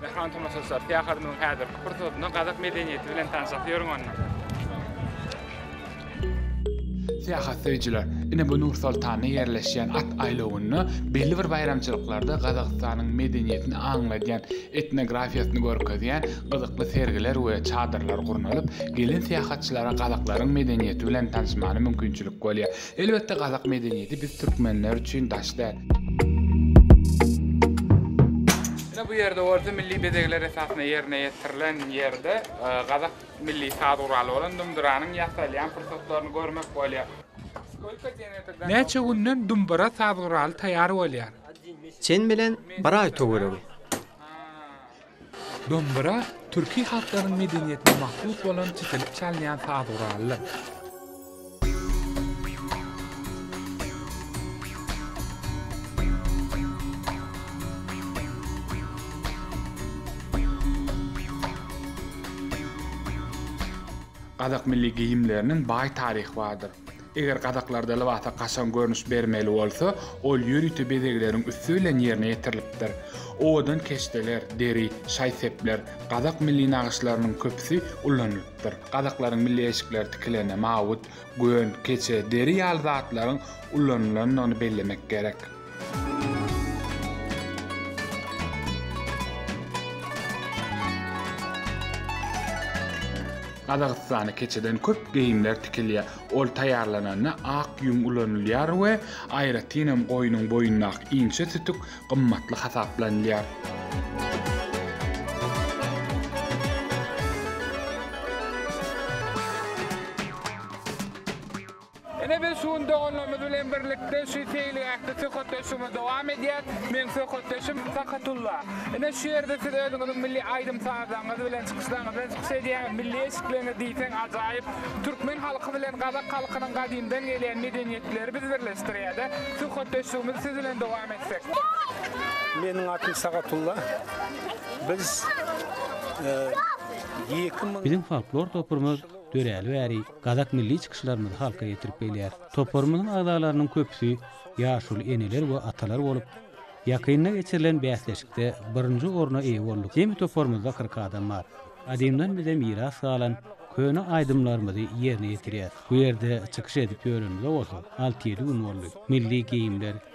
Mehman tomaşaçylar, syýahatymyzyň häzirki pursatyny gazak medeniýeti bilen tanşasy ýörüň onda. Syýahatsöýüjiler ine bu Nur-Soltanda ýerleşýän at aýlawynda belli bir baýramçylyklarda Gazagystanyň medeniýetini aňladýan, etnografiýasyny görkezýän gyzykly sergiler we çadyrlar gurnalyp, gelen syýahatçylara gazaklaryň medeniýeti bilen tanyşmagyna mümkinçilik bolýar. Elbetde gazak medeniýeti biz türkmenler üçin daş däl. Ine bu ýerde bolsa milli bezegler esasynda ýerine ýetirilen ýerde gazak Milli saz guraly bolan dumdyranyň ýasalýan pursatlaryny görmek bolýar. Näçe günden dumbyra saz guraly taýýar bolýar? Çen bilen bir aý töweregi. Dumbyra türki halklaryň medeniýetine mahsus bolan çitilip çalynýan saz guralydyr. Gazak milli geýimleriniň baý taryhy bardyr. Eger gazaklarda lybasa kaşaň görnüş bermeli bolsa, ol ýörite bezegleriň üsti bilen ýerine ýetirilipdir. Owadan keşdeler, deri, şaý-sepler, gazak milli nagyşlarynyň köpüsi ullanylypdyr. bolupdyr. Gazaklaryň milli eşikleri tikilende mawut, gön, keçe, deri ýaly zatlaryň ulanylandygyny bellemek gerek. Gazagystanda keçeden köp geýimler tikilýär. Ol taýýarlananda ak ýüň ulanylýar we aýratynam goýnuň boýundaky inçe sütük gymmatly hasaplanylýar. Ine biz şu gün doganlarymyz bilen birlikde şu seýilgähde söhbetdeşligimizi dowam edýäs. Meň söhbetdeşim Sakatulla. Ine şu ýerde siz özüňiziň milli aýdym-sazlaryňyz bilen çykyşlaryňyzdan çykyş edýäňiz. Milli eşikleriňiz diýseň ajaýyp. Türkmen halky bilen gazak halkynyň gadymdan gelýän medeniýetleri bizi birleşdirýär-de. Söhbetdeşligimizi siz bilen dowam Meniň atym Sagatulla. Biz ýekim. Biziň folklor toprymyz döräli bäri gazak milli çykyşlarymyzy halka ýetirip gelýär. Toprymyzyň agzalarynyň köpüsi ýaşuly eneler we atalar bolup, ýakynda geçirilen bäsleşikde birinji orna eýe bolduk. Jemi toprymyzda kyrk adam bar. Gadymdan bize miras galan köne aýdymlarymyzy ýerine ýetirýäs. Bu ýerde çykyş edip ýörenimize bolsa alty-ýedi gün boldy. Milli geýimler,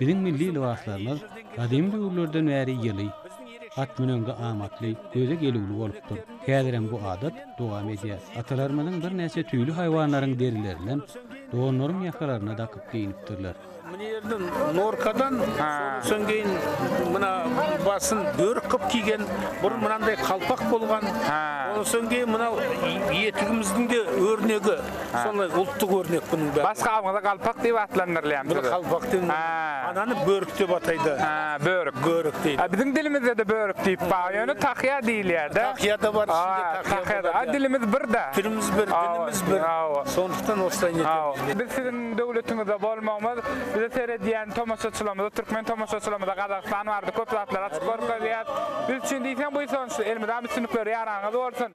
Biziň milli lybaslarymyz gadymy döwürlerden bäri ýyly, at müneňde amatly, göze gelüwli bolupdyr. Häzirem bu adat dowam edýär. Atalarymyzyň birnäçe tüýli haýwanlaryň derilerinden donlaryň ýakalaryna dakyp geýnipdirler. Mine ýerden norkadan, soň geýin muna basyn börük gyp kiýgen, burun mynandaý kalpak bolgan, ondan soň geýin muna ýetigimizdinde örnegi. Şonda ultdyk örnek bunun bäri. Başga adyňyza galpak diýip atlandyrylýan. Buna galpak diýip. Ha. Anany börük diýip ataýda. Ha, börük. Börük diýip. Ha, biziň dilimizde-de börük diýip bar. Ýöne tahýa diýilýär-de. Tahýa-da bar, içinde tahýa bar. Ha, dilimiz bir-de. Dilimiz bir, dilimiz bir. Hawa. Şonlukdan oslaýyn edýäris biz. Biz siziň döwletiňizde bolmagymyz, bize seredýän tomaşaçylarymyza, türkmen tomaşaçylarymyza Gazagystan barada köp zatlary açyp görkezýäris. Biz üçin diýseň bu sonçy. Elmydam üstünlikler ýaranyňyz bolsun.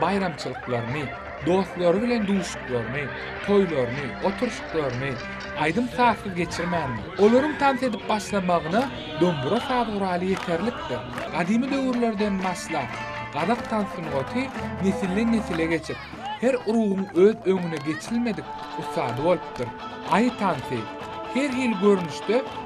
baýramçylyklaryny, dostlary bilen duşuklaryny, toýlaryny, oturyşyklaryny aýdym-sazsyz geçirmändir. Olaryň tans edip başlamagyna dombura saz guraly ýeterlikdir. Gadymy döwürlerden başlap, gazak tans sungaty nesilden-nesile geçip, her urugyň öz öňüne geçilmedik ussady bolupdyr. Aýy tansy, her hili görnüşde,